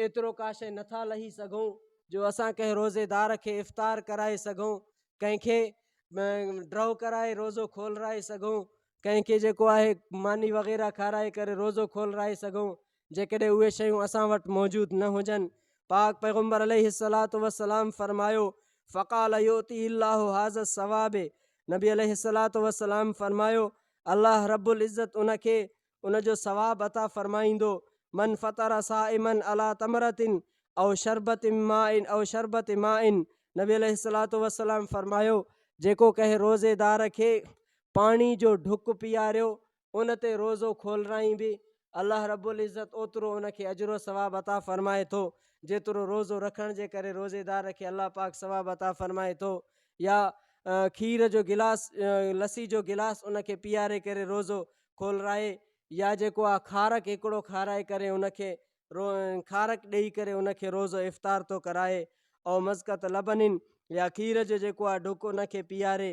ايترو ڪاشي نه ٿا لهي سگهون جو اسان ڪنهن روزيدار کي افطار ڪرائي سگهون، ڪنهن کي ڊرو ڪرائي روزو کولرائي سگهون، ڪنهن کي جيڪو آهي ماني وغيره کارائي ڪري روزو کولرائي سگهون، جيڪڏهن اهي شيون اسان وٽ موجود نه هجن. پاڪ پيغمبر عليه الصلوة والسلام فرمايو، فقال يؤتيه الله هذا الثواب نبي عليه الصلوة والسلام فرمايو، الله رب العزت ان کي ان جو ثواب عطا فرمائيندو، من فطر صائما علي تمرة او شربة ماء او شربة ماء نبي عليه الصلوة والسلام فرمايو، جيڪو ڪنهن روزيدار کي پاڻي جو ڍڪ پياريو ان تي روزو کولرائين به الله رب العزت اوترو ان کي اجر و ثواب عطا فرمائي ٿو جيترو روزو رکڻ جي ڪري روزيدار کي الله پاڪ ثواب عطا فرمائي ٿو يا کير جو گلاس لسي جو گلاس ان کي پياري ڪري روزو کولرائي يا جيڪو آ کارڪ هڪڙو کارائي ڪري ان کي رو کارڪ ڏئي ڪري ان کي روزو افطار ٿو ڪرائي او مزقة لبن يا کير جو جيڪو آ ڍڪ ان کي پياري